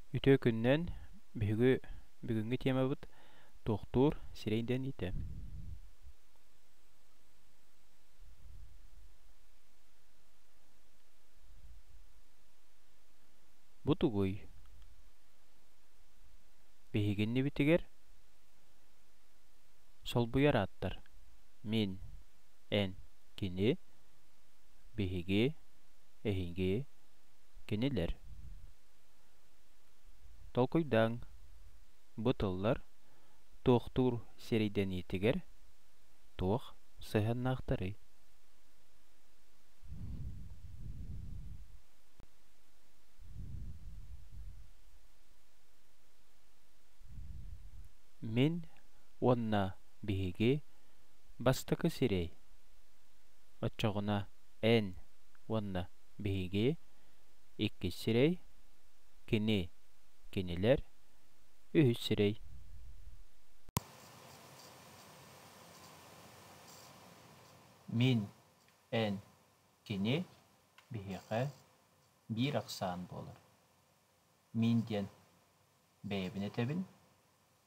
Үтүө күнүнэн! Биһиги бүгүҥҥү тиэмабыт «Туохтуур сирэй» диэн иитэ. Бу тугуй? Биһиги иннибитигэр солбуйар ааттар «мин», «эн», «кини», «биһиги», «эһиги», Кинилэр толкуйдааҥ, бу тыллар туохтуур сэридэниитигэр туох сыһыаннаахтарый? Мин уонна биһиги бастакы сирэй оччоҕуна Н уонна Биһиги, иккис сирэй, кини, кинилэр, үһүс сирэй Мин, эн, кини, биһиэхэ биир ахсаан буолар. Мин диэн бэйэбин этэбин,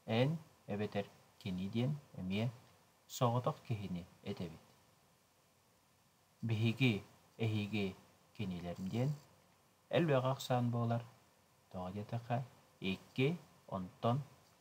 эн эбэтэр кини диэн эмиэ соҕотох киһини этэбит. Биһиги эһиги кинилэр диэн элбэх ахсаан буолар, тоҕо диэтэххэ икки, онтон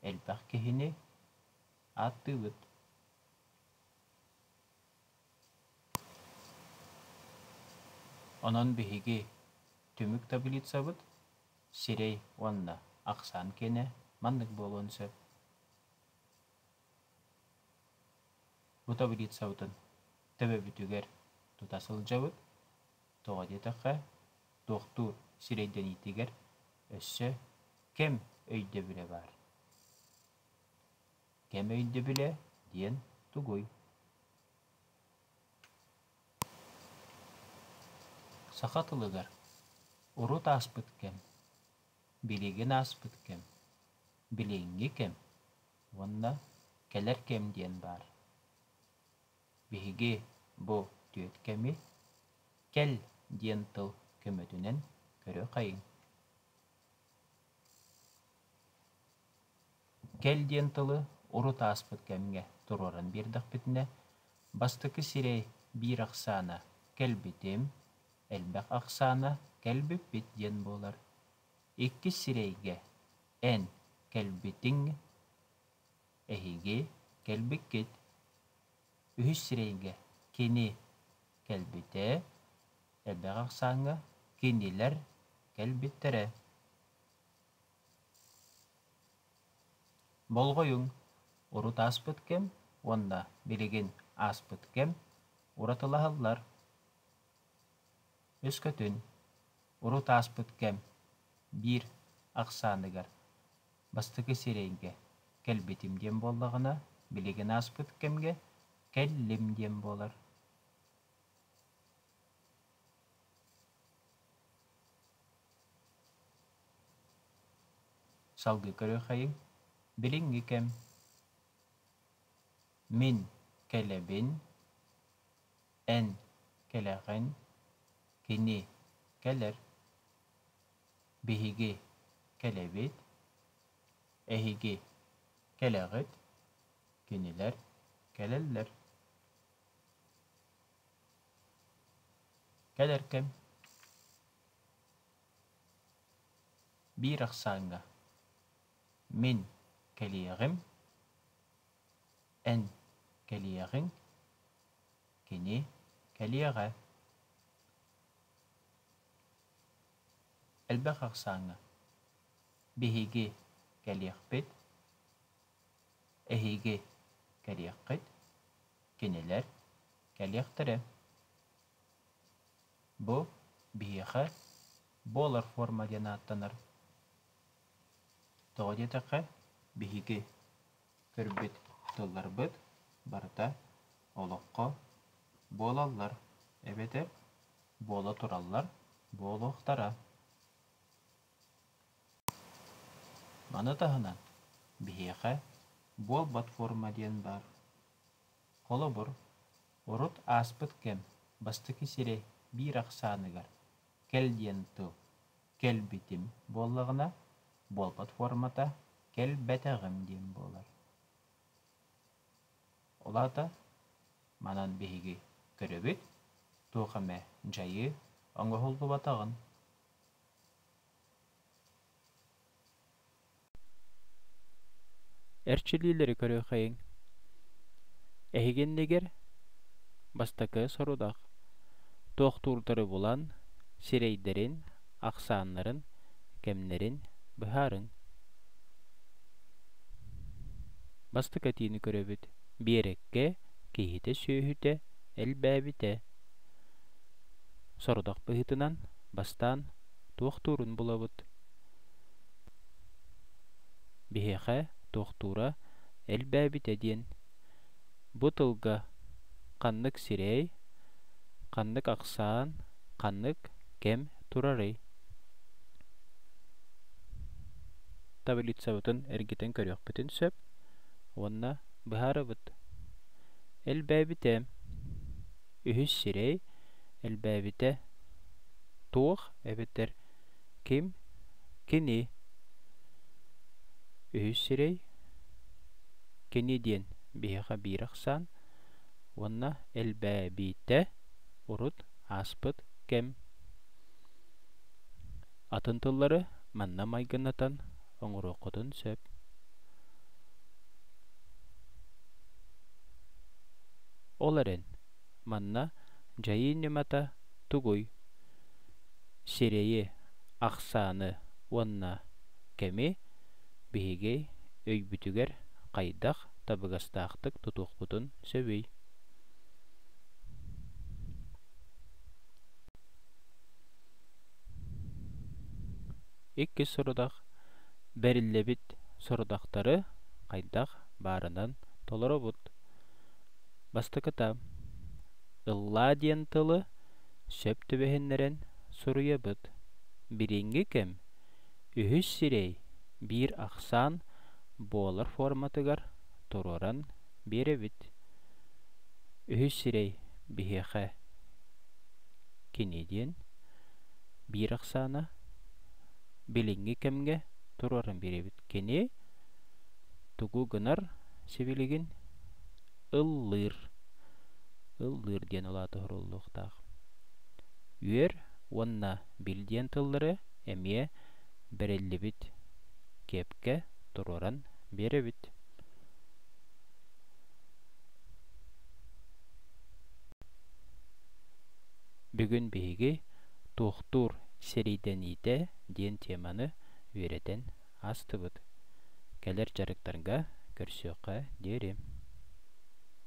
элбэх киһини ааттыыбыт. Онон биһиги түмүк таблицабыт сирэй уонна ахсаан киэнэ маннык буолуон сөп Бутоврицабытын төбөбүтүгэр тута сылдьабыт, тоҕо диэтэххэ, туохтуур сирэйдэниитигэр өссө кэм өйдөбүлэ баар. Кэм өйдөбүлэ диэн тугуй? Саха тылыгар урут ааспыт кэм Билигин ааспыт кэм, билиҥҥи кэм уонна кэлэр кэм диэн баар. Биһиги бу түөрт кэми кэл диэн тыл көмөтүнэн көрө-хайыҥ. Кэл диэн тылы урут ааспыт кэмҥэ туруоран биэрдэхпитинэ, бастакы сирэй биир ахсаана кэлбитим, Элбэх ахсаана кэлбиппит диэн буолар. Иккис сирэйгэ эн кэлбитиҥ эһиги кэлбиккит. Үһүс сирэйгэ кини кэлбитэ, элбэх ахсааҥҥа кинилэр кэлбиттэрэ. Болҕойуҥ, урут ааспыт кэм уонна билигин ааспыт кэм уратылаһаллар. Өскөтүн урут ааспыт кэм биир ахсааныгар бастакы сирэйгэ кэлбитим диэн буоллаҕына, билигин ааспыт кэмҥэ кэллим диэн буолар салгыы көрүөххэйиҥ билиҥҥи кэм мин кэлэбин Эн кэлэҕин, кини кэлэр, биһиги кэлэбит, эһиги кэлэҕит, кинилэр кэлэллэр. Кэлэр кэм биир ахсааҥҥа мин кэлиэҕим, эн кэлиэҕиҥ Кини кэлиэҕэ. Элбэх ахсааҥҥа биһиги кэлиэхпит, эһиги кэлиэххит, кинилэр кэлиэхтэрэ. Бу биһиэхэ буолар форма диэн ааттанар. Тоҕо диэтэххэ, биһиги көрбүт тылларбыт барыта олоххо буолаллар эбэтэр буола тураллар буолуохтара. Маны таһынан биһиэхэ буолбат форма диэн баар. Холобур, урут ааспыт кэм бастакы сирэ биир ахсааныгар кэл диэн тыл кэлбитим буоллаҕына, буолбат формата кэлбэтэҕим диэн буолар. Ол аата манан биһиги көрөбүт туох эмэ дьайыы оҥоһуллубатаҕын. эрчиллиилэри көрүөххэйиҥ эһигиннигэр бастакы сорудах туохтуурдары булан сирэйдэрин ахсааннарын кэмнэрин быһаарыҥ бастакы этиини көрөбүт биэрэккэ киһитэ сүөһүтэ элбээбитэ сорудах быһыытынан бастаан туохтуурун булабыт Биһиэхэ туохтуура элбээбитэ диэн, бу тылга ханнык сирэй, ханнык ахсаан, ханнык кэм турарый? Таблицабытын эргитэн көрүөхпүтүн сөп уонна быһаарабыт. Элбээбитэ үһүс сирэй, элбээбитэ туох эбэтэр Ким? Кини. Үһүс сирэй кини диэн биһиэхэ биир ахсаан уонна элбээбитэ урут ааспыт кэм. Атын тыллары манна майгынатан оҥоруоххутун сөп. Ол эрэн Манна дьайыы ньымата тугуй? Сирэйи, ахсааны уонна кэми биһиги өйбүтүгэр хайдах табыгастаахтык тутуохпутун сөбүй? Иккис сорудах бэриллэбит сорудахтары хайдах баарынан толоробут. Бастакыта, ыллаа диэн тылы сөп түбэһиннэрэн суруйабыт. Билиҥҥи кэм үһүс сирэй биир ахсаан буолар форматыгар туруоран биэрэбит. Үһүс сирэй биһиэхэ кини диэн биир ахсаана билиҥҥи кэмҥэ туруоран биэрэбит. Кини тугу гынар сибилигин ыллыыр ыллыыр диэн улаата оһоруллуохтаах үөр уонна бил диэн тыллары эмиэ бэриллибит кэпкэ туруоран биэрэбит бүгүн биһиги туохтуур сэриидэниитэ диэн теманы үөрэтэн Астыбыт. Кэлэр дьарыктарга көрсүөххэ диэри.